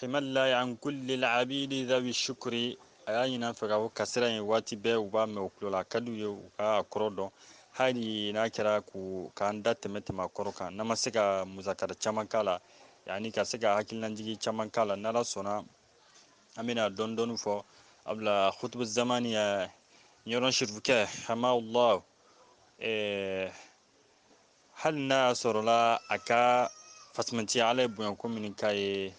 hamala an kuli abidi zawi sukuri a y'a ɲin fɛ o kasira in waati bɛɛ u b'a mɛn u tulo la ka ye u ka kɔrɔ dɔn hali n'a kɛra ko k'an da tɛmɛ tɛmɛ kɔrɔ kan n'a ma se ka musakara caman k'a la yani ka se ka hakililajigi caman k'a la n'ala sɔnna an bɛna dɔɔni dɔɔni fɔ a bila kutubu zamani ye ɲɔrɔn sirifukɛ hamala hali n'a y'a sɔrɔla a ka fisamanciya ala ye bonya ko min k'a ye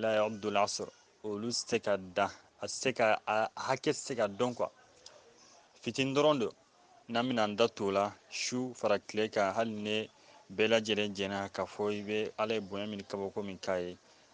la yabdul asr olu tɛ se ka dan a se ka a hakɛ tɛ se ka dɔn quoi fitini dɔrɔn don n'an bɛna an da t'o la su fara tile kan hali ni bɛɛ lajɛlen jɛna k'a fɔ i bɛ ala ye bonya min kabako min k'a ye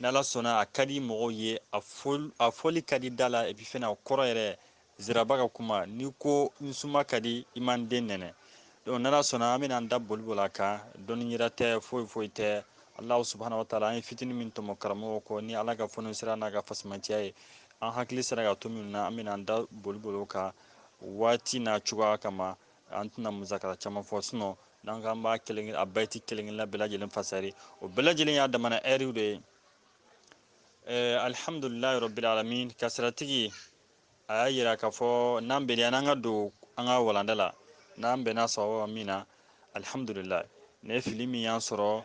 n'ala sɔnna a ka di mɔgɔw ye a fɔli ka di da la epi fɛnɛ a kɔrɔ yɛrɛ ziraba ka kuma n'i ko n suma ka di i ma n den nɛnɛ donc n'ala sɔnna an bɛna an da boli boli a kan dɔnni yira tɛ foyi foyi tɛ alahu subahana wataala an ye fitini min tɔmɔ karamɔgɔ kɔ ni ala ka fɔnisire n'a ka fisamanciya ye an hakili sera ka to minnu na an bɛna an da boli boli o kan waati n'a cogoya kama an tɛna musakara caman fɔ sinɔn n'an k'an b'a kelen a bayiti kelen kelenna bɛɛ lajɛlen fasari o bɛɛ lajɛlen y'a damana ɛriw de ye eh, alihamudulilayi rabbil alamin kasiratigi a y'a yira k'a fɔ n'an bɛnna n'an ka don an ka walanda la n'an bɛnna sababu min na alihamudulilayi ne fili min y'an sɔrɔ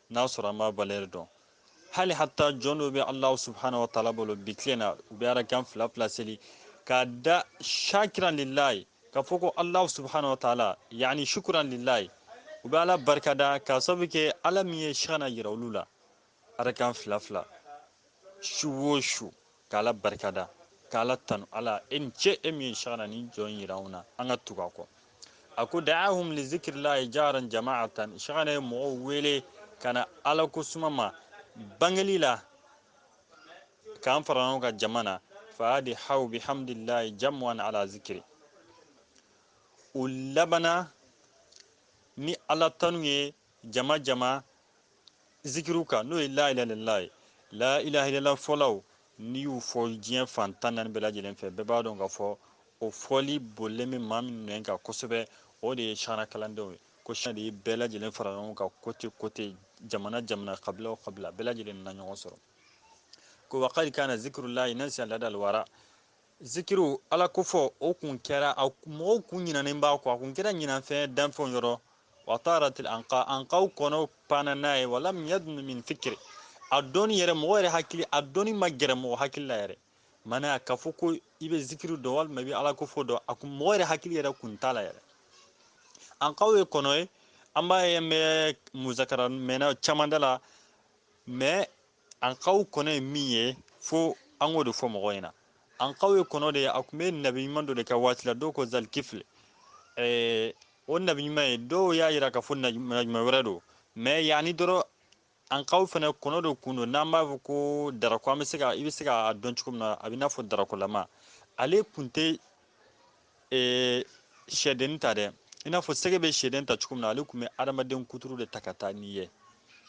n'a sɔrɔ an b'a valɛri dɔn hali hatta jɔn dɔw bɛ alahu subhana wa taala bolo bi tile in na u bɛ arakan fila fila seli k'a da shakiran lilayi k'a fɔ ko alahu subhana wa taala yani shukuran lilayi u bɛ ala barikada k'a sababu kɛ ala min ye shagana yira olu la arakan fila fila su o su K'Ala barikada, ka Ala tanu, Ala e ni ce e min ye shagana ni jɔn in jira anw na, an ka tugu a kɔ. A ko, Da'ahum li zikirillahi jahran jama'atan, shagana ye mɔgɔw wele ka na Ala ko suma ma bangeli la, k'an fara ɲɔgɔn kan jama na, fa'adhaw bi hamdillahi jam'an ala zikiri. U labana ni Ala tanu ye jama jama zikiriw kan n'o ye la ilaha illallah ye la ilaha illallah fɔlaw n'i y'u fɔ diɲɛ fan tan naani bɛɛ lajɛlen fɛ bɛɛ b'a dɔn k'a fɔ o fɔli bolilen bɛ maa minnu nɛn kan kosɛbɛ o de ye shagana kalandenw ye ko shagana de ye bɛɛ lajɛlen fara ɲɔgɔn kan kote kote jamana jamana kabila o kabila bɛɛ lajɛlen nana ɲɔgɔn sɔrɔ ko wa kadi kana zikirulayi nasiya ladal wara zikiriw ala ko fɔ o kun kɛra a mɔgɔw kun ɲinɛnen b'a kɔ a kun kɛra ɲinanfɛn danfɛnw yɔrɔ wa taaratil anka ankaw kɔnɔ panna n'a ye walam yadunu min fikiri a dɔnni yɛrɛ mɔgɔ yɛrɛ hakili a dɔnni ma gɛrɛ mɔgɔ hakili la yɛrɛ ma na k'a fɔ ko i bɛ zikiri dɔn walima i bɛ ala ko fɔ dɔn a kun mɔgɔ yɛrɛ hakili yɛrɛ kun t'a la yɛrɛ ankaw ye kɔnɔ ye an b'a ye an bɛ musakara mɛnna caman da la mɛ anqaw kɔnɔ ye min ye fo an k'o de fɔ mɔgɔ ɲɛna anqaw ye kɔnɔ de ye a kun bɛ nabi ɲuman dɔ de ka waati la dɔw ko zalikifili eh, o nabi ɲuman ye dɔw y'a yira k'a fɔ nabi ɲuman wɛrɛ don mais yanni dɔrɔn anqaw fana kɔnɔ dɔ kun don n'an b'a fɔ ko darako an bɛ se ka i bɛ se k'a dɔn cogo min na a bɛ n'a fɔ darakolama ale kun tɛ ee sɛdennin ta dɛ i n'a fɔ sɛgɛ bɛ sɛden ta cogo min na ale kun bɛ adamaden kuturu de ta ka taa n'i ye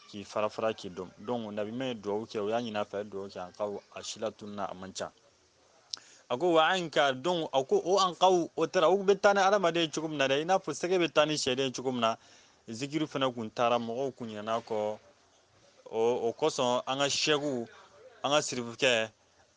k'i fara fara k'i dun donc nabi ɲuman ye dugawu kɛ o y'a ɲin'a fɛ dugawu kɛ anqaw a si latununna a man ca a ko wa anqa donc a ko o anqaw o taara u bɛ taa ni adamaden ye cogo min na dɛ i n'a fɔ sɛgɛ bɛ taa ni sɛden ye cogo min na zikiri fana kun taara mɔgɔw kun ɲinana a kɔ o kosɔn an ka sɛkiw an ka sirifukɛ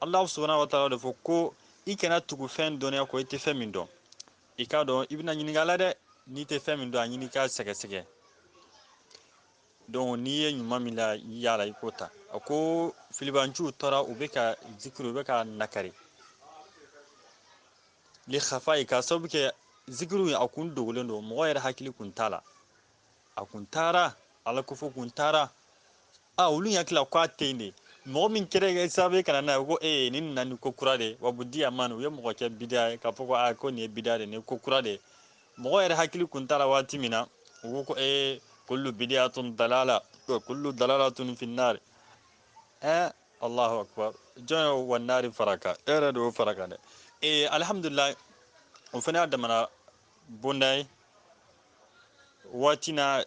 Alahu subahana wa taala de fɔ ko i kana tugu fɛn dɔnniya kɔ i tɛ fɛn min dɔn i k'a dɔn i bɛna ɲininka a la dɛ n'i tɛ fɛn min dɔn a ɲini k'a sɛgɛsɛgɛ donc n'i ye ɲuman min la y'a la i k'o ta a ko filibanciw tora u bɛ ka zikiri u bɛ ka nakari li khafaihi k'a sababu kɛ zikiri a kun dogolen don mɔgɔ yɛrɛ hakili kun t'a la a kun taara ala ko fɔ kun taara a olu hakili la ko a tɛ yen de mɔgɔ min kɛra sababu ye ka na n'a ye ko ee nin nana ni ko kura de wa budia man u ye mɔgɔ kɛ bida ye k'a fɔ ko a ko nin ye bida de nin ye ko kura de mɔgɔ yɛrɛ hakili kun t'a la waati min na u ko ko ee kullu bidiyatun dalala kullu dalalatun finnari ɛɛ allahu akbar jɔn ye wa naari fara a kan e yɛrɛ de y'o fara a kan dɛ ee alihamudulilayi o fana y'a damana bonda ye waati na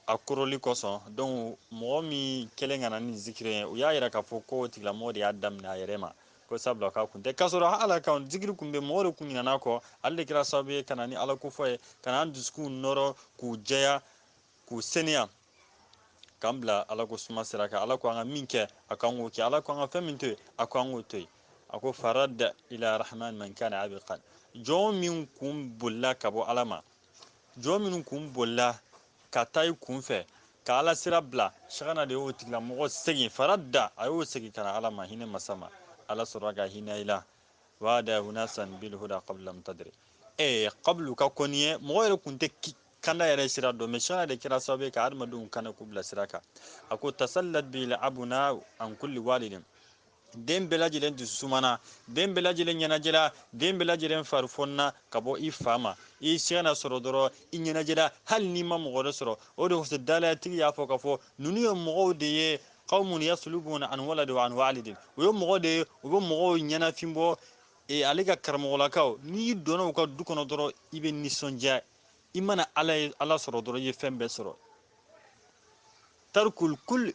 a koroli kosɔn donc mɔgɔ min kɛlen ka na ni zikiri ye u y'a yira k'a fɔ ko o tigilamɔgɔ de y'a daminɛ a yɛrɛ ma ko sabula k'a kun tɛ k'a sɔrɔ ala ka zikiri kun bɛ mɔgɔ de kun ɲinana a kɔ ale de kɛra sababu ye ka na ni ala kofɔ ye ka na an dusukunw nɔrɔ k'u jɛya k'u seniya k'an bila ala ko suma sira kan ala ko an ka min kɛ a k'an k'o kɛ ala ko an ka fɛn min to yen a ko an k'o to yen a ko faradda ila rahman man kana abiqan jɔn min kun bolila ka bɔ ala ma jɔn minnu kun bolila ka taa i kun fɛ ka ala sira bila sagana de y'o tigilamɔgɔ segin faradda a y'o segin ka na ala ma hinɛ masa ma ala sɔrɔla ka hinɛ i la wada unasan bilhuda qabla lam tadri ee qablu ka kɔn nin ɲɛ mɔgɔ yɛrɛ kun tɛ kanda yɛrɛ sira dɔn mais sagana de kɛra sababu ye ka adamadenw kanda k'u bila sira kan a ko tasallat bil abuna an kulli walidin den bɛɛ lajɛlen dusu sumana den bɛɛ lajɛlen ɲɛnajɛla den bɛɛ lajɛlen farifɔnina ka bɔ i fa ma i sagana sɔrɔ dɔrɔn i ɲɛnajɛla hali n'i ma mɔgɔ wɛrɛ sɔrɔ o de kosɔn dalayatigi y'a fɔ k'a fɔ ninnu ye mɔgɔw de ye qawmun yaslubuna an waladi wa an walidin u ye mɔgɔ de ye u bɛ mɔgɔw ɲɛnafin bɔ e, ale ka karamɔgɔlakaw n'i donna u ka du kɔnɔ dɔrɔn i bɛ nisɔndiya i mana ala ye ala sɔrɔ dɔrɔn i ye fɛn bɛɛ sɔrɔ tarkul kul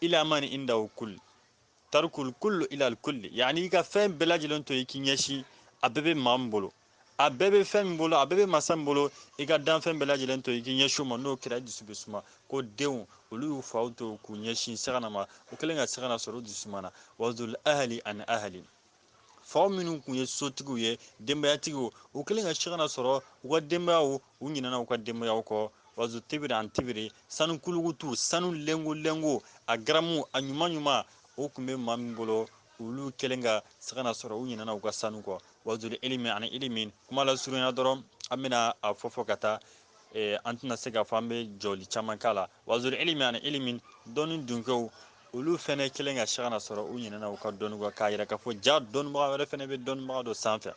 ila man indahu kul tarkul kullu ilal kulli yani i ka fɛn bɛɛ lajɛlen to i k'i ɲɛsin a bɛɛ bɛ maa min bolo a bɛɛ bɛ fɛn min bolo a bɛɛ bɛ masa min bolo i ka danfɛn bɛɛ lajɛlen to i k'i ɲɛsin o ma n'o kɛra i dusu bɛ suma ko denw olu y'u faw to k'u ɲɛsin sagana ma u kɛlen ka sagana sɔrɔ u dusu sumana wazul ahli an ahli faw minnu kun ye sotigiw ye denbayatigiw u kɛlen ka sagana sɔrɔ u ka denbayaw u ɲinana u ka denbayaw kɔ wazu tibiri an tibiri sanu kulukutu sanu lengo lengo a garamu a ɲuman ɲuman o kun bɛ maa min bolo olu kɛlen ka sagana sɔrɔ u ɲinana u ka sanu kɔ wazul ilimi ani ilimi kuma lasurunya dɔrɔn an bɛna a fɔ fɔ ka taa eh, an tɛna se k'a fɔ an bɛ jɔli caman k'a la wazul ilimi ani ilimi dɔnni dunkɛw olu fɛnɛ kɛlen ka sagana sɔrɔ u ɲinɛna u ka dɔnni kɔ k'a yira k'a fɔ ja dɔnnibaga wɛrɛ fɛnɛ bɛ dɔnnibaga dɔ sanfɛ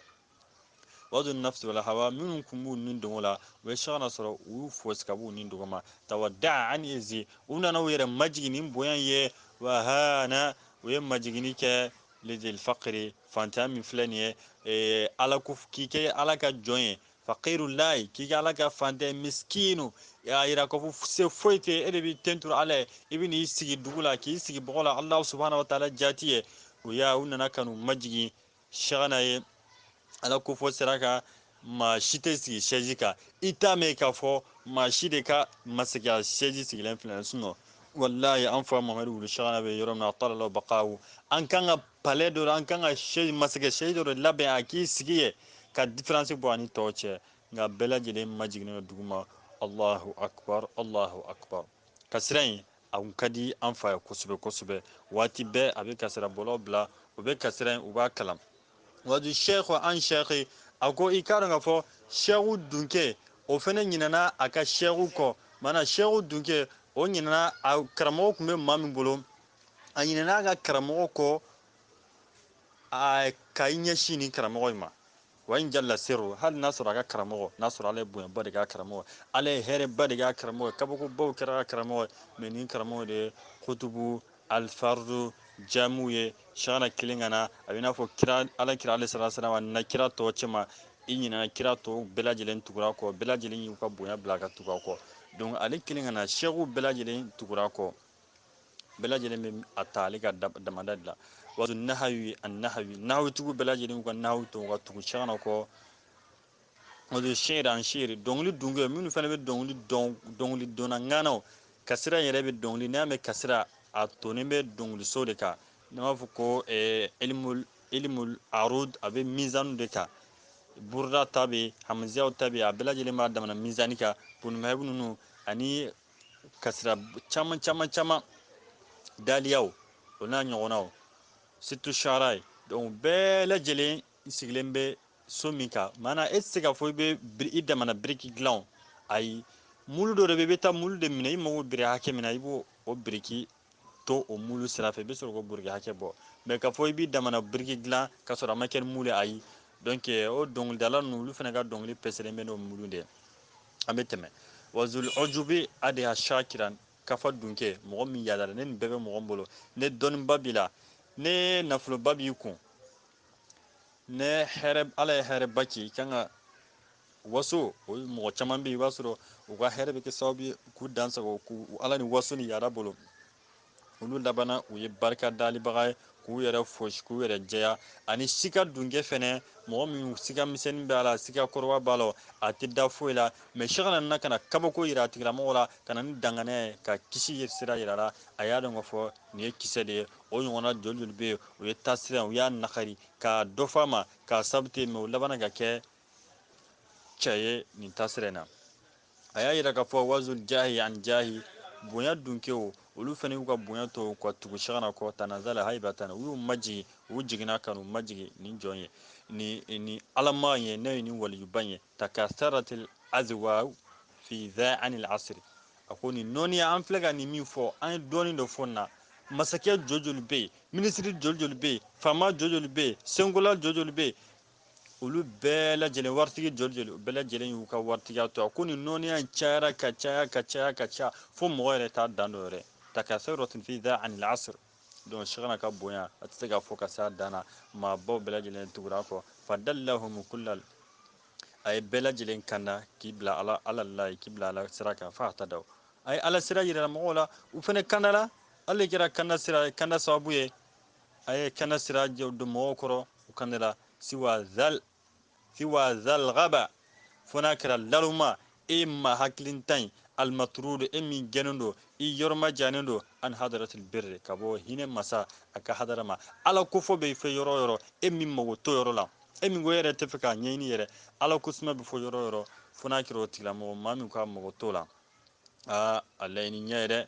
wadu nafsi wal hawa minnu kun b'u ni dungo la u ye sagana sɔrɔ u y'u fosi ka b'u ni dungo ma tawaddaa an izi u nana u yɛrɛ majigin ni bonya ye wa hana u ye majiginni kɛ lidil fakiri fantanya min filɛ nin ye ala k'i kɛ ala ka jɔn ye fakiru layi k'i kɛ ala ka fantan misikinu y'a yira ko se foyi tɛ e de b'i tentu ala ye i bɛ n'i sigi dugu la k'i sigi bɔgɔ la ala subahana taala jati ye o y'a u nana ka n'u majigin sagana ye ala ko fɔ sera ka maa si tɛ sigi sɛji kan i t'a mɛn k'a fɔ maa si de ka masakɛya sɛji sigilen filɛ sinon walayi an fa mamadu wulu sagana bɛ yɔrɔ min na atala ala bakawu an kan ka palais dɔ an kan ka masakɛ siège dɔ de labɛn a k'i sigi ye ka différence bɔ a ni tɔw cɛ nka bɛɛ lajɛlen majiginnen don duguma allahu akbar allahu akbar kasira in a kun ka di an fa ye kosɛbɛ kosɛbɛ waati bɛɛ a bɛ kasira bɔlaw bila u bɛ kasira in u b'a kalan wadu sheikh an sheikh a ko i k'a dɔn k'a fɔ sheikhu dunke o fɛnɛ ɲinana a ka sheikhu kɔ mana sheikhu dunke o ɲinana a karamɔgɔ kun bɛ maa min bolo a ɲinɛna a ka karamɔgɔ kɔ a ka i ɲɛsin nin karamɔgɔ in ma wa in jalla siru hali n'a sɔrɔ a ka karamɔgɔ n'a sɔrɔ ala ye bonyaba de k'a karamɔgɔ ala ye hɛrɛba de k'a karamɔgɔ kabakobaw kɛra a karamɔgɔ mais nin karamɔgɔ de ye kutubu alfardu jamu ye sagana kɛlen ka na a bɛ n'a fɔ kira ala kira ale sala salam nana kira tɔw cɛma i ɲinana kira tɔw bɛɛ lajɛlen tugur'a kɔ bɛɛ lajɛlen y'u ka bonya bila ka tugu a kɔ donc ale kɛlen ka na sekuw bɛɛ lajɛlen tugur'a kɔ bɛɛ lajɛlen bɛ a ta ale ka damada de la wato nahawi an nahawi nahawitigiw bɛɛ lajɛlen y'u ka nahawi to ka tugu shekana kɔ wato shiri an shiri dɔnkili dunkɛ minnu fana bɛ dɔnkili dɔn dɔnkili dɔnna ŋanaw kasira yɛrɛ bɛ dɔnkili n'i y'a mɛn kasira a tonnen bɛ dɔnkiliso de kan n'an b'a fɔ ko eh, ilimul ilimul arud a bɛ mizanu de kan buruda ta bɛ hamiziyaw ta bɛ a bɛɛ lajɛlen b'a damana mizani kan bunimahibu ninnu ani kasira caman caman caman daliyaw o n'a ɲɔgɔnnaw surtout sara ye donc bɛɛ lajɛlen n sigilen bɛ so min kan maana e tɛ se k'a fɔ i bɛ i damana biriki dilan ayi mulu dɔ de bɛ i bɛ taa mulu de minɛ i mago bɛ biri hakɛ min na i b'o o biriki to o mulu sira fɛ i bɛ sɔrɔ k'o biriki hakɛ bɔ mais k'a fɔ i b'i damana biriki dilan ka sɔrɔ a ma kɛ ni mulu ye ayi donc eh, o dɔnkilidala ninnu olu fana ka dɔnkili pɛsɛlen bɛ n'o mulu de ye an bɛ tɛmɛ wazul ɔjubi adiha shakiran kafa dunke mɔgɔ min yadara ne nin bɛɛ bɛ mɔgɔ bolo ne dɔnniba b'i la ne nafoloba b'i kun ne hɛrɛ ala ye hɛrɛba k'i kan ka waso o mɔgɔ caman bɛ yen i b'a sɔrɔ u ka hɛrɛ bɛ kɛ sababu ye k'u dansago k'u ala ni waso ni yada bolo olu labanna u ye barika dalibaga ye k'u yɛrɛ fosi k'u yɛrɛ jɛya ani sika dunkɛ fɛnɛ mɔgɔ min sika misɛnnin b'a la sika kɔrɔba b'a la a tɛ da foyi la mais shekana nana ka na kabako yira a tigilamɔgɔ la ka na ni danganaya ye ka kisi sira yira la a y'a dɔn k'a fɔ nin ye kisɛ de ye o ɲɔgɔnna joli joli bɛ yen u ye taasira u y'a nakari ka dɔ fɔ a ma k'a sababu te mɛ u labanna ka kɛ cɛ ye nin tasira in na a y'a yira k'a fɔ wazul jahi an jahi bonya dunkew olu fana y'u ka bonya to ka tugu shekana kɔ tanazala haibatan u y'u majigin u jiginna ka n'u majigin nin jɔn ye ni ni alama ye ne ye nin waliyuba ye takasaratil azwa fi za anil asr a ko nin nɔɔniya an filɛ ka nin min fɔ an ye dɔɔnin dɔ fɔ nin na masakɛ joli joli bɛ yen minisiri joli joli bɛ yen faama joli joli bɛ yen senkola joli joli bɛ yen olu bɛɛ lajɛlen waritigi joli joli bɛɛ lajɛlen y'u ka waritigiya to a ko nin nɔɔniya in cayara ka caya ka caya ka caya fo mɔgɔ yɛrɛ t'a dan dɔn yɛrɛ takasaratil fi da anil asr donc shekana ka bonya a tɛ se ka fɔ ka se a dan na maabaw bɛɛ lajɛlen tugura kɔ fadallahum kullal a ye bɛɛ lajɛlen kanda k'i bila ala ala la k'i bila ala sira kan fo a ta daw a ye ala sira yira mɔgɔw la u fana kandara ale kɛra kanda sira kanda sababu ye a ye kanda sira don mɔgɔw kɔrɔ u kandala siwa zal siwa zal gaba fo n'a kɛra naloma e maa hakilintan ye almatrudu e min gɛnnen don i yɔrɔma jannen don an hadaratil birri ka bɔ hinɛ masa a ka hadara ma ala kofɔ bɛ fɔ yɔrɔ o yɔrɔ e min mago t'o yɔrɔ la e min ko e yɛrɛ t'a fɛ k'a ɲɛɲini yɛrɛ ala ko suma bɛ fɔ yɔrɔ o yɔrɔ fo n'a kɛra o tigilamɔgɔ maa min k'a mago t'o la aa a laɲini ɲɛ ye dɛ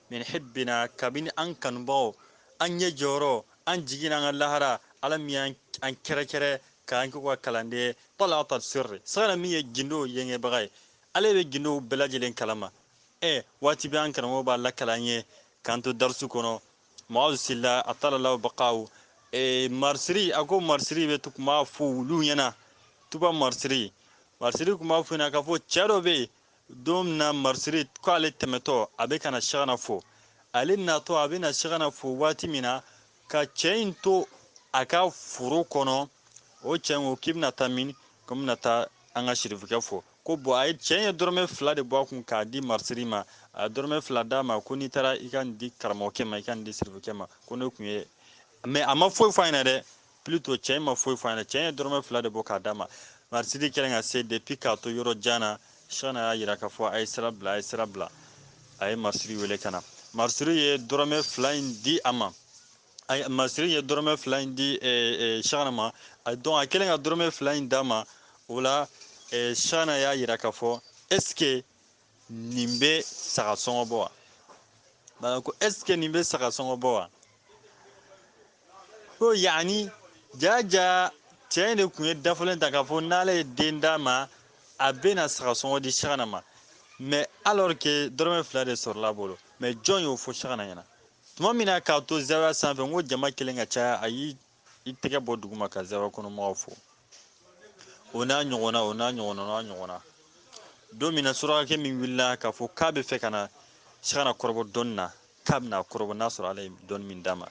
min hibbina kabini an kanubagaw an ɲɛ jɔyɔrɔ an jigi n'an ka lahara ala min y'an kɛrɛkɛrɛ k'an k'u ka kalanden wala ta sirri sagana min ye gindow yɛngɛbaga ye ale bɛ gindow bɛɛ lajɛlen kalama ɛ waati bɛ an karamɔgɔ b'a lakali an ye k'an to darisu kɔnɔ maaw sila a talalaw bakaw e, marsiri a ko marsiri bɛ tun b'a fɔ olu ɲɛna tuba marsiri marsiri tun b'a fɔ ɲɛna k'a fɔ cɛ dɔ bɛ yen don min na marisiri ko ale tɛmɛtɔ a bɛ ka na sagana fo ale natɔ a bɛna sagana fo waati min na ka cɛ in to a ka foro kɔnɔ o cɛ in ko k'i bɛna taa min ko n bɛna taa an ka sirifikɛ fo ko bon a ye cɛ in ye dɔrɔmɛ fila de bɔ a kun k'a di marisiri ma a ye dɔrɔmɛ fila d'a ma ko n'i taara i ka nin di karamɔgɔkɛ ma i ka nin di sirifikɛ ma ko ne tun ye mais a ma foyi fɔ a ɲɛna dɛ plutôt cɛ in ma foyi fɔ a ɲɛna cɛ in ye dɔrɔmɛ fila de bɔ k'a d'a ma marisiri kɛlen ka se depuis k'a to yɔrɔ jan na sagana y'a yira k'a fɔ a ye sira bila a ye sira bila a ye marisiri wele ka na marisiri ye dɔrɔmɛ fila in di a ma marisiri ye dɔrɔmɛ fila in di sagana ma donc a kɛlen ka dɔrɔmɛ fila in d'a ma o la sagana y'a yira k'a fɔ est ce que nin bɛ saga sɔngɔ bɔ wa ko est ce que nin bɛ saga sɔngɔ bɔ wa ko yaani jaa jaa cɛ in de tun ye dafalen ta k'a fɔ n'ala ye den d'a ma a bɛna saga sɔngɔ di sagana ma mais alors que dɔrɔmɛ fila de sɔrɔla a bolo mais jɔn y'o fɔ sagana ɲɛna tuma min na k'a to zawiya sanfɛ n ko jama kɛlen ka caya a y'i i tɛgɛ bɔ duguma ka zawiya kɔnɔmɔgɔw fo o n'a ɲɔgɔnna o n'a ɲɔgɔnna o n'a ɲɔgɔnna don min na surakakɛ min wulila k'a fɔ k'a b'a fɛ ka na sagana kɔrɔbɔ dɔnni na k'a bɛn'a kɔrɔbɔ n'a sɔrɔ ala ye dɔnni min d'a ma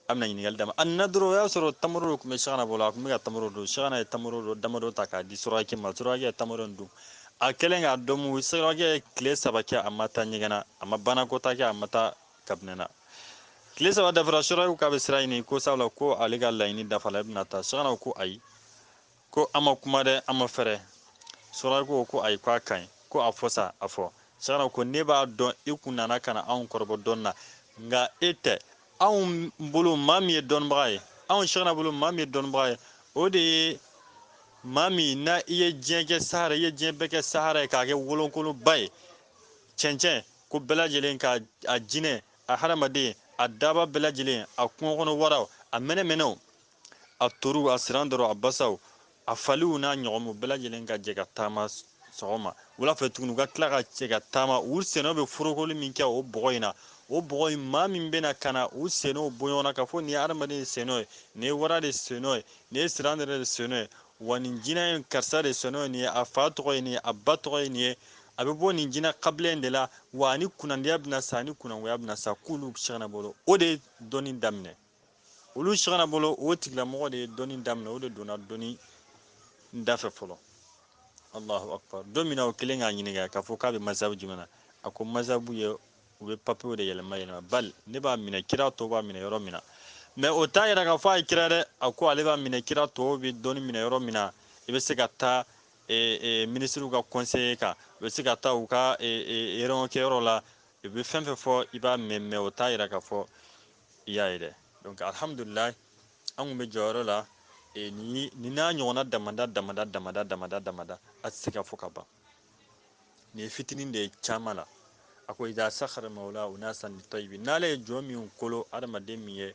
a bɛna ɲininkali d'a ma a nana dɔrɔn o y'a sɔrɔ tamaro dɔ tun bɛ sagana bolo a tun bɛ ka tamaro dun sagana ye tamaro dɔ damadɔ ta k'a di surakakɛ ma surakakɛ ye tamaro in dun a kɛlen k'a dun mu surakakɛ ye tile saba kɛ a ma taa ɲɛgɛn na a ma banakɔtaa kɛ a ma taa kabinɛ na tile saba dafara surakakɛ k'a bɛ sira ɲini ko sabula ko ale ka laɲini dafala a bɛna taa sagana ko ayi ko an ma kuma dɛ an ma fɛrɛ surakakɛ ko ayi ko a ka ɲi ko a fɔ sa a fɔ sagana ko ne b'a dɔn i kun nana ka na anw kɔrɔbɔ dɔnni na nka e tɛ anw bolo maa min ye dɔnnibaga ye anw sagana bolo maa min ye dɔnnibaga ye o de ye maa min na i ye diɲɛ kɛ sahara i ye diɲɛ bɛɛ kɛ sahara ye k'a kɛ wolonkolonba ye cɛncɛn ko bɛɛ lajɛlen ka a jinɛ a hadamaden a daba bɛɛ lajɛlen a kungo kɔnɔ waraw a mɛnɛmɛnɛw a toruw a siran dɔrɔ a basaw a faliw n'a ɲɔgɔnnaw bɛɛ lajɛlen ka jɛ ka taama sɔgɔma wula fɛ tuguni u ka tila ka jɛ ka taama u sennɔw bɛ forokoli min kɛ o bɔgɔ in na o bɔgɔ in maa min bɛna ka na u sennɔw bɔ ɲɔgɔn na k'a fɔ nin ye hadamaden de sennɔ ye nin ye wara de sennɔ ye nin ye siran yɛrɛ de sennɔ ye wa nin jinɛ in karisa de sennɔ ye nin ye a fa tɔgɔ ye nin ye a ba tɔgɔ ye nin ye a bɛ bɔ nin jinɛ kabila in de la wa ani kunnandiya bɛna sa ani kunnangoya bɛna sa k'olu sɛkina bolo o de ye dɔnni daminɛ olu sɛkina bolo o tigilamɔgɔ de ye dɔnni daminɛ o de donna dɔnni da fɛ fɔlɔ allahu akbar don min na u kɛlen k'a ɲininka k'a fɔ k'a bɛ masabu jumɛn na a ko masabu ye u bɛ papiyew de yɛlɛma yɛlɛma bali ne b'a minɛ kira tɔw b'a minɛ yɔrɔ min na mais o t'a yira k'a fɔ a ye kira dɛ a ko ale b'a minɛ kira tɔw bɛ dɔnni minɛ yɔrɔ min na i bɛ se ka taa minisiriw ka conseil kan u bɛ se ka taa u ka réunion kɛyɔrɔ la u bɛ fɛn fɛn fɔ i b'a mɛn mais o t'a yira k'a fɔ i y'a ye dɛ donc alihamudulilahi an tun bɛ jɔyɔrɔ la ni n'a ɲɔgɔnna damada damada damada damada damada a tɛ se ka fɔ ka ban nin ye fitinin de ye caman la a ko iza sakhara mawla unasan litayibi n'ala ye jɔn minnu kolo adamaden min ye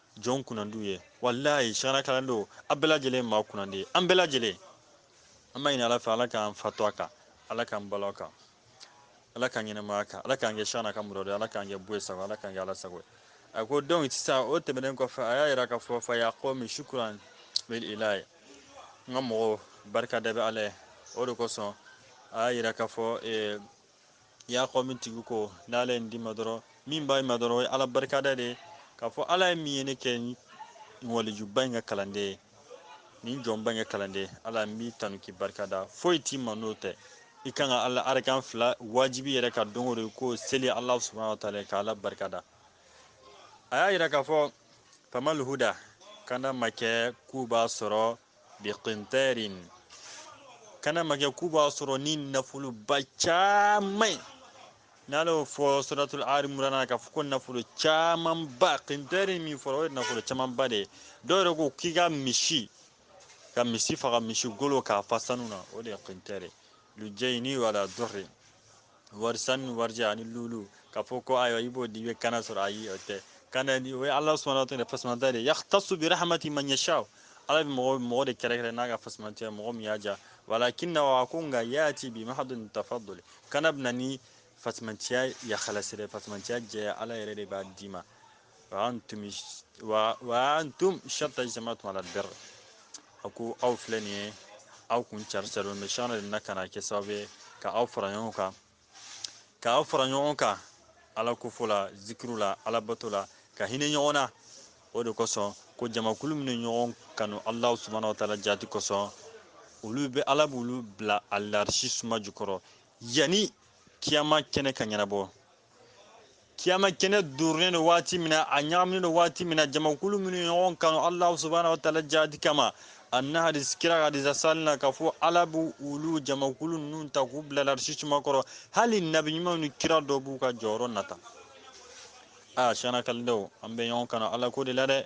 jɔn kunnandiw ye walayi sɛkina kalandenw a bɛɛ lajɛlen ye maa kunnandi ye an bɛɛ lajɛlen an b'a ɲini ala fɛ ala k'an fatu a kan ala k'an balo a kan ala k'an ɲɛnamaya a kan ala k'an kɛ sɛkina ka muridu ala k'an kɛ buye sago ala k'an kɛ ala sago ye a ko donc sisan o tɛmɛnen kɔfɛ a y'a yira k'a fɔ fa ya qawmi shukran bil ilahi n ka mɔgɔw barika da bɛ ala ye o de kosɔn a y'a yira k'a fɔ ya qawmi tigi ko n'ala ye nin d'i ma dɔrɔn min b'a ma dɔrɔn o ye ala barikada de ye k'a fɔ ala ye min ye ne kɛ nin walijuba in ka kalanden ye nin jɔnba in ka kalanden ala n b'i tanu k'i barikada foyi t'i ma n'o tɛ i kan ka ala arakan fila wajibi yɛrɛ ka don o don k'o seli ala subahana wa taala ka ala barikada a y'a yira k'a fɔ famal huda kana ma kɛ k'u b'a sɔrɔ biqintarin kana ma kɛ k'u b'a sɔrɔ ni nafoloba caman ye n'ala y'o fɔ suratul ali imran na k'a fɔ ko nafolo camanba qintarin min fɔra o ye nafolo camanba de ye dɔw yɛrɛ ko k'i ka misi ka misi faga misi golo k'a fa sanu na o de ye qintarin lujayni wala durri wari sanu warijɛ ani lulu k'a fɔ ko ayiwa i b'o di i bɛ kana sɔrɔ ayi o tɛ kana ni o ye ala subahana wa taala fasamata de yaktasu bi rahmati man yasha ala bɛ mɔgɔ de kɛrɛkɛrɛ n'a ka fasamatiya mɔgɔ min y'a diya walakinnahu ko nka yati bi mahadun tafadul kana bɛna ni fasamatiya yakalasire fasamatiya jɛya ala yɛrɛ de b'a d'i ma wa antum wa wa antum shatta jama'atum alal bir a ko aw filɛ nin ye aw kun carisalen bɛ sɛkina de na ka na kɛ sababu ye ka aw fara ɲɔgɔn kan ka aw fara ɲɔgɔn kan ala kofo la zikiri la ala bato la ka hinɛ ɲɔgɔn na o de kosɔn ko jamakulu minnu ɲɔgɔn kanu alahu subahana wa taala jaati kosɔn olu bɛ ala b'olu bila alarisi suma jukɔrɔ yanni kiyama kɛnɛ ka ɲɛnabɔ kiyama kɛnɛ durunnen don waati min na a ɲagaminen don waati min na jamakulu minnu ɲɔgɔn kanu alahu subahana wa taala jaati kama a nana hadisi kira ka hadisi asili na k'a fɔ ala b'u olu jamakulu ninnu ta k'u bila larisi suma kɔrɔ hali nabi ɲumanw ni kira dɔw b'u ka jɔyɔrɔ nata a shana kalidenw an bɛ ɲɔgɔn kanu ala ko de la dɛ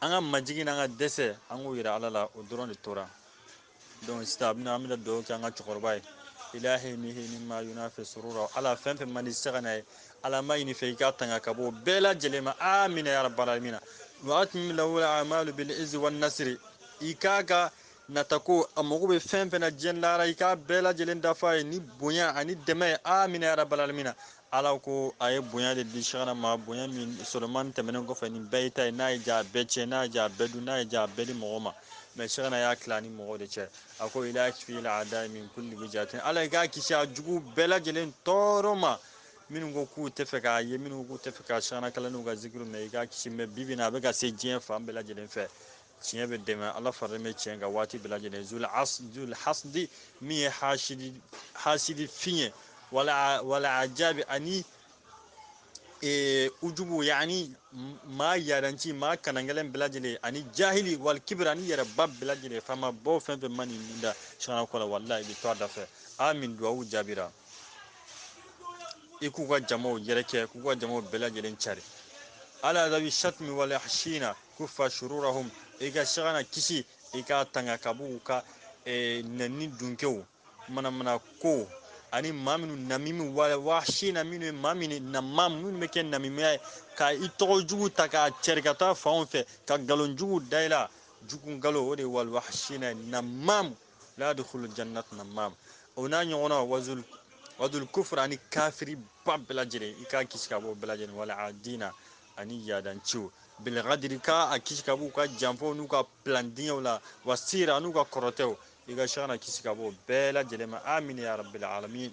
an ka majigin n'an ka dɛsɛ an k'o yira ala la o dɔrɔn de tora donc sisan a bɛna an bɛna dugawu kɛ an ka cɛkɔrɔba ye ilahi mihi mimma yunafi surura ala fɛn fɛn man di shana ye ala an b'a ɲini i fɛ i k'a tanga ka bɔ o bɛɛ lajɛlen ma amina ya rabbal alamin wa atmim lahu amalu bil izzi wan nasri i k'a ka natako a mago bɛ fɛn fɛn na diɲɛ lahara i k'a bɛɛ lajɛlen dafa a ye ni bonya ani dɛmɛ ye amina ya rabbal alamin ala ko a ye bonya de di shana ma bonya min solomani tɛmɛnen kɔfɛ nin bɛɛ y'i ta ye n'a y'i diya bɛɛ tiɲɛ n'a y'i diya bɛɛ dun n'a y'i diya bɛɛ di mɔgɔ ma mɛ shana y'a tila ni mɔgɔ de cɛ a ko ila kfil ada min kulli wijihatin ala i k'a kisi a jugu bɛɛ lajɛlen tɔɔrɔ ma minnu ko k'u tɛ fɛ k'a ye minnu k'u tɛ fɛ ka shana kalandenw ka zikiru mɛ i k'a kisi mɛ bi bi in na a bɛ ka se diɲɛ fan bɛɛ lajɛlen fɛ tiɲɛ bɛ dɛmɛ ala faralen bɛ tiɲɛ kan waati bɛɛ lajɛlen zul hasidi min ye hasidi hasidi fin ye wala wal ajabi ani ee ujubu yani maa yaranci maa kanangɛlɛn bɛɛ lajɛlen ani jahili wal kibiri ani yɛrɛba bɛɛ lajɛlen faama baw fɛn fɛn ma nin min da shana kɔ la walahi i bɛ to a da fɛ amin duwawu jaabira i k'u ka jamaw yɛrɛkɛ k'u ka jamaw bɛɛ lajɛlen cari ala zawi shatmi wal waashina kufa shururahum i ka shana kisi i k'a tanga ka b'u ka eh, nɛni dunkew manamana ko ani maa minnu namimi waashina minnu ye maa min namam minnu bɛ kɛ namimiya ye ka i tɔgɔ jugu ta k'a cɛri ka taa fanw fɛ ka nkalon jugu da i la jugu nkalon o de ye wal waashina ye namamu la yadkhulu jannat namam o n'a ɲɔgɔnna wazul wadul kufra ani kafiri ba bɛɛ lajɛlen i k'a kisi ka b'o bɛɛ lajɛlen wal adina ani yaadanciw bil kadiri ka a kisi ka b'u ka janfaw n'u ka pilandiŋɛw la wa sihiri an'u ka kɔrɔtɛw i ka shana kisi ka b'o bɛɛ lajɛlen ma amina ya rabbil alamin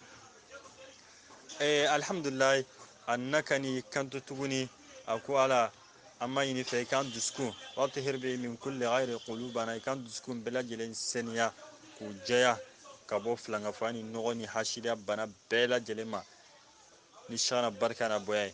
eh, alhamdulilayi a nana ka nin kanto tuguni a ko ala an b'a ɲini i fɛ i k'an dusukun watihir be min kulli gayri qulubana i k'an dusukun bɛɛ lajɛlen seniya k'u jɛya ka bɔ filankafoya ni nɔgɔ ni hasidiya bana bɛɛ lajɛlen ma ni shana barika n'a bonya ye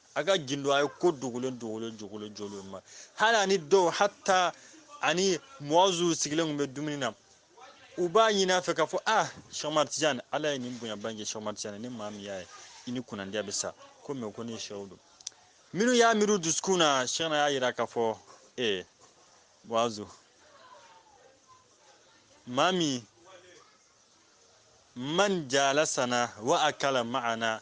a ka gindo a ye ko dogolen dogolen jogolen jogolen ma hali ani dɔw hatta a ni muwazu sigilen tun bɛ dumuni na u b'a ɲini a fɛ k'a fɔ a shɛ amad tijan ala ye nin bonya bange shɛ amad tijan ni maa min y'a ye i ni kunnandiya bɛ sa ko mɛ ko ne shɛhu dun minnu y'a miiri dusukun na shana y'a yira k'a fɔ ee muwazu maa min man jalasana wa akala ma'ana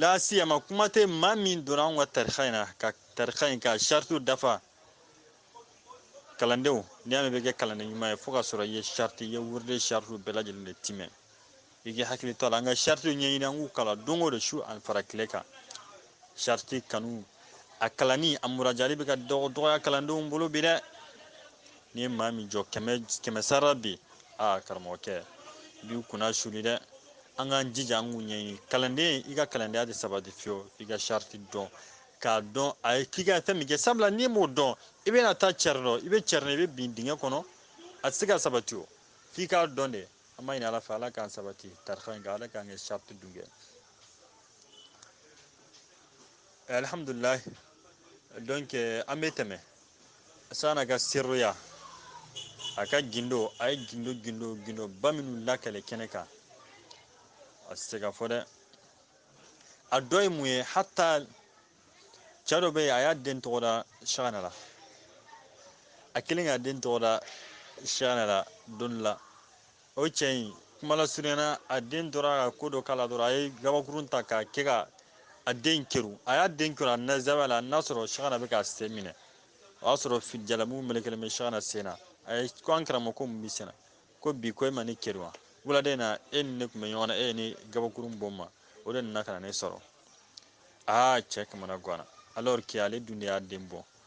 lasiyama kuma tɛ maa min donna anw ka tarika in na ka tarika in ka saritiw dafa kalandenw n'i y'a mɛn i bɛ kɛ kalanden ɲuman ye fo ka sɔrɔ i ye sariti i ye wurudi in saritiw bɛɛ lajɛlen de timɛ i k'i hakili to a la an ka saritiw ɲɛɲini an k'u kalan don o don su ani fara tile kan sariti kanu a kalanni a murajali bɛ ka dɔgɔya kalandenw bolo bi dɛ n'i ye maa min jɔ kɛmɛ sara bi aa karamɔgɔkɛ i b'i kunna suuli dɛ an k'an jija an k'u ɲɛɲini kalanden i ka kalandenya tɛ sabati fiyewu i ka sariti dɔn k'a dɔn a ye k'i ka fɛn min kɛ sabula n'i m'o dɔn i bɛna taa cɛri dɔn i bɛ cɛri i bɛ bin dingɛ kɔnɔ a tɛ se ka sabati o f'i k'a dɔn de an b'a ɲini ala fɛ ala k'an sabati tarika in kan ala k'an kɛ sariti dun kɛ alhamdulilayi donc euh, an bɛ tɛmɛ sagana ka siriya a ka gindo a ye gindo gindo gindoba minnu lakali kɛnɛ kan a tɛ se ka fɔ dɛ a dɔ ye mun ye hata cɛ dɔ bɛ yen a y'a den tɔgɔ da sagana la a kelen k'a den tɔgɔ da sagana la don dɔ la o cɛ in kuma lasurunyana a den tora ka ko dɔ k'a la dɔrɔn a ye gabakurun ta k'a kɛ ka a den keru a y'a den keru a na zawiya la n'a sɔrɔ sagana bɛ k'a sen minɛ o y'a sɔrɔ jalamugu melekelen bɛ sagana sen na a ye ko an karamɔgɔ ko mun b'i sen na ko bi ko e ma ne keru wa wuladen na e ni ne tun bɛ ɲɔgɔn na e ye ne gabakurun bon n ma o de nana ka na ne sɔrɔ aa cɛ kamana ganna alors que ale dun de y'a den bon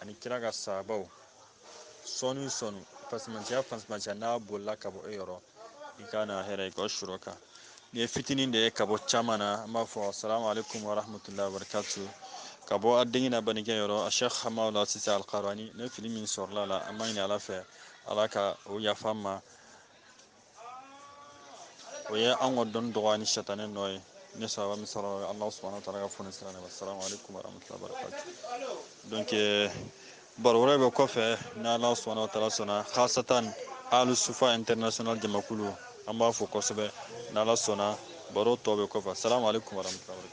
ani kira ka sahabaw sɔɔni sɔɔni fasimantiya fasimantiya n'a bolila ka bɔ e yɔrɔ i ka na hɛrɛ i ka surɔ kan nin ye fitinin de ye ka bɔ caman na an b'a fɔ assalamu alaikum warahmatullahi wabarakatu ka bɔ a denkɛ n'a balimakɛ yɔrɔ a shekh hamaula sise alkarani ni fili min sɔrɔla a la an b'a ɲini ala fɛ ala ka o yafa an ma o ye an ka dɔnni dɔgɔya ni sɛtanɛ nɔ ye ni sawaba min sɔrɔ alahu subahana taala ka fonisire nɛɛma salamu aleykum warahmatulahi wabarakatu donc euh, baro wɛrɛ bɛ kɔfɛ ni alahu subahana taala sɔnna hasatan alu sufa international jamakulu an b'a fo kosɛbɛ ni ala sɔnna baro tɔ bɛ kɔfɛ salamu aleykum warahmatulahi